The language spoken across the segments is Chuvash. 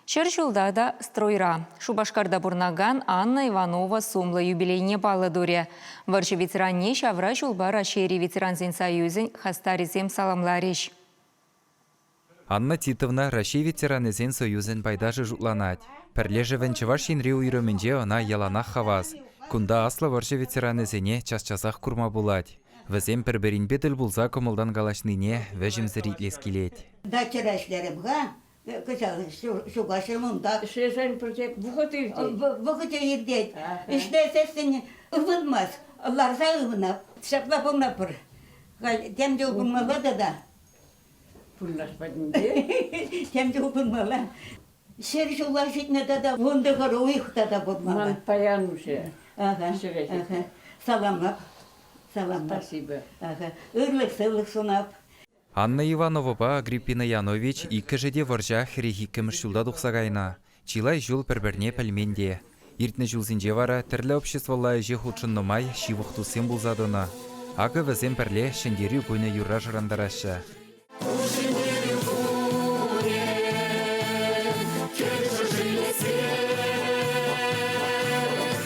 Ҫӗр ҫулта та стройра Шупашкарта пурӑнакан Анна Иванова сумлӑ юбилейне паллӑ турӗ. Вӑрҫӑ ветеранне ҫавра ҫулпа Раҫҫейри ветерансен союзӗн хастарӗсем саламларӗҫ. Анна Титовна Раҫҫей ветеранӗсен союзӗн пайташӗ шутланать. Пӗрлешӗвӗн Чӑваш Енри уйрӑмӗнче ӑна яланах хавас. Кунта аслӑ вӑрҫӑ ветеранӗсене час-часах курма пулать. Вӗсем пӗр-пӗринпе тӗл пулса кӑмӑлтан калаҫнине вӗҫӗмсӗр итлес килет. Дачӑра ӗҫлерӗм-ха, Кӑҫал ҫука ҫул унта. Ӗҫлесен пӗрте вӑхӑт иртет. Вӑхӑчӗ иртет. Ӗҫлесессӗн ывӑнмасть. Ларса ывӑнап. Ҫапла пулма пӗр. Тем чул пулмалла тата. Пуллаш патӗнче. Тем чул пулмалла. Ҫӗр ҫула ҫитнӗ тата вун тӑхӑр уйӑх тата пурмалла. Ман паян уҫӑ. Ҫӗре ҫитнӗ. Саламлап. Саламлап. Спасибо. Ырлӑх-сывлӑх сунап. Анна Ивановӑпа Агриппина Янович иккӗшӗ те вӑрҫах хӗрех иккӗмӗш ҫулта тухса кайнӑ. Чылай ҫул пӗр-пӗрне пӗлмен те. Иртнӗ ҫулсенче вара тӗрлӗ обществӑлла ӗҫе хутшӑннӑ май ҫывӑх туссем пулса тӑнӑ. Акӑ вӗсем пӗрле Ҫӗнтерӳ кунӗ юрра шӑрантараҫҫӗ.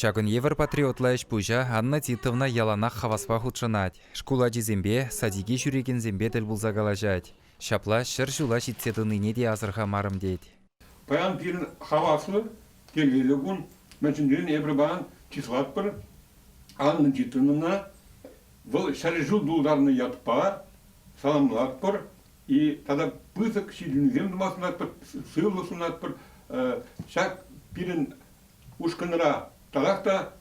Ҫакӑн евӗр патриотла ӗҫ-пуҫа Анна Титовна яланах хаваспа хутшӑнать, шкул ачисемпе, садике ҫӳрекенсемпе тӗл пулса калаҫать. Ҫапла ҫӗр ҫула ҫитсе тӑнине те асӑрхамарӑм тет. Паян пирӗн хаваслӑ телейлӗ кун, мӗншӗнрен эпир паян чыслатпӑр Анна Титовнӑна. Вӑл ҫӗршыв тултарнӑ ятпа саламлатпӑр тата пысӑк ҫитӗнӳсем тума сунатпӑр, сывлӑх сунатпӑр. Ҫак пирӗн ушкӑнра татах та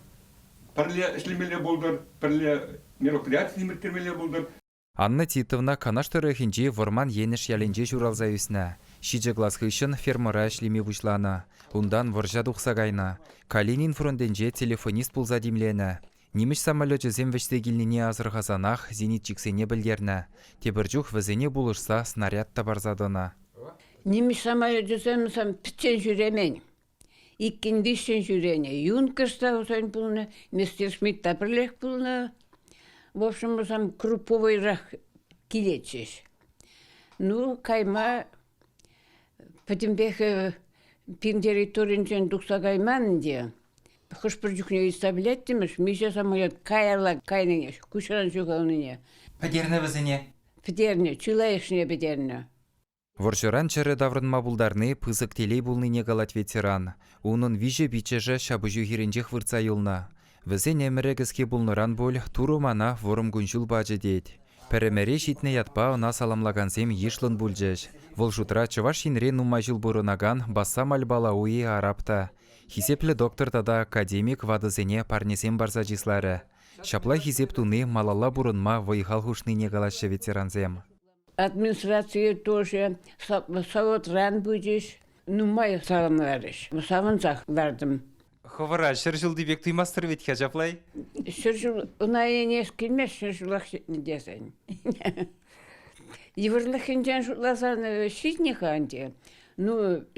пӗрле ӗҫлемелле пултӑр, пӗрле мероприятисем ирттермелле пултӑр. Анна Титовна Канаш тӑрӑхӗнчи Вӑрман Енӗш ялӗнче ҫуралса ӳснӗ. Ҫичӗ класс хыҫҫӑн фермӑра ӗҫлеме пуҫланӑ. Унтан вӑрҫа тухса кайнӑ. Калинин фронтӗнче телефонист пулса тимленӗ. Нимӗҫ самолечӗсем вӗҫсе килнине асӑрхасанах зенитчиксене пӗлтернӗ. Тепӗр чух вӗсене пулӑшса снаряд та парса тӑнӑ. Нимӗҫ самолечӗсем пӗччен ҫӳремен. Иккӗн-виҫҫӗн ҫӳренӗ. Юнкӑш та Хусен пулнӑ, Мистер Смит та пӗрлех пулнӑ. В общем, вӗсем групповӑйрах килетчӗҫ. Ну, кайма пӗтӗмпех пин территоринчен тухса кайман ӗнтӗ. Хӑш-пӗр чухне ыйтса пӗлеттӗмӗш, миҫе самолет каялла кайнине, куҫран ҫухалнине. Пӗтернӗ вӗсене? Пӗтернӗ, чылайӑшне пӗтернӗ. Вӑрҫӑран чӗрӗ таврӑнма пултарни пысӑк телей пулнине калать ветеран. Унӑн виҫӗ пиччӗшӗ ҫапӑҫу хирӗнчех выртса юлнӑ. Вӗсен ӗмӗрӗ кӗске пулнӑран пуль Турӑ мана вӑрӑм кун-ҫул пачӗ тет. Пӗр ӗмӗре ҫитнӗ ятпа ӑна саламлакансем йышлӑн пулчӗҫ. Вӑл шутра Чӑваш Енре нумай ҫул пурӑнакан Бассам Аль-Балауи араб та, хисеплӗ доктор тата академик ватӑсене парнесем парса чысларӗ. Ҫапла хисеп туни малалла пурӑнма вӑй-хал хушнине калаҫҫӗ ветерансем. Администрацие тоже савотран пычӗҫ. Нумай савӑнрарӗҫ. Савӑнсах лартӑм. Хӑвӑра ҫӗр ҫулти пек туймастӑр вӗт ха ҫаплай? Ҫӗр ҫул ӑна ӗнес килмест ҫӗр ҫулах ҫитнӗ тесен. Йывӑрлӑхӗнчен шутласан ҫитнӗ-ха ӗнтӗ. Ну,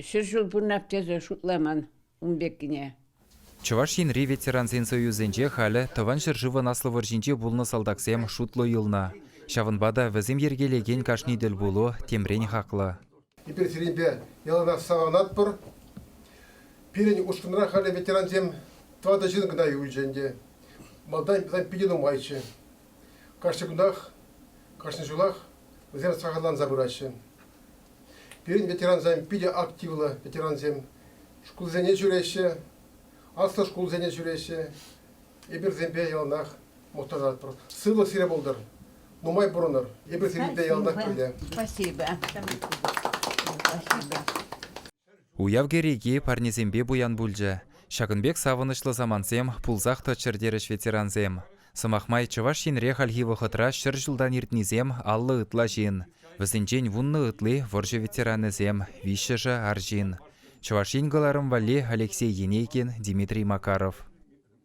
ҫӗр ҫул пурнап тесе шутламан. ун пеккине. Чӑваш Енри ветерансен союзӗнче халӗ Тӑван ҫӗршывӑн Аслӑ вӑрҫинче пулнӑ салтаксем шутлӑ юлнӑ. Ҫавӑнпа та вӗсем йӗркелекен кашни тӗл пулу темрен хаклӑ. Эпир сирӗнпе яланах савӑнатпӑр. Пирӗн ушкӑнра халӗ ветерансем тӑватӑ ҫын кӑна юлчӗ ӗнтӗ. Малтан питӗ нумайччӗ. Кашни кунтах, кашни ҫулах вӗсем сахалланса пыраҫҫӗ. Пирӗн ветерансем питӗ активлӑ ветерансем. Шкулсене ҫӳреҫҫӗ, аслӑ шкулсене ҫӳреҫҫӗ. Эпирсемпе яланах мухтанатпӑр. Сывлӑх сире пултӑр, нумай пурӑнӑр. Эпир сирӗн те яланах пӗрле. Спасибо. Спасибо. Уяв кӗреки парнесемпе пуян пулчӗ. Ҫакӑн пек савӑнӑҫлӑ самантсем пулсах тӑччӑр терӗҫ ветерансем. Сӑмах май, Чӑваш Енре хальхи вӑхӑтра ҫӗр ҫултан иртнисем аллӑ ытла ҫын. Вӗсенчен вуннӑ ытли вӑрҫӑ ветеранӗсем, виҫҫӗшӗ арҫын. Чӑваш Ен кӑларӑм валли Алексей Енейкин, Дмитрий Макаров.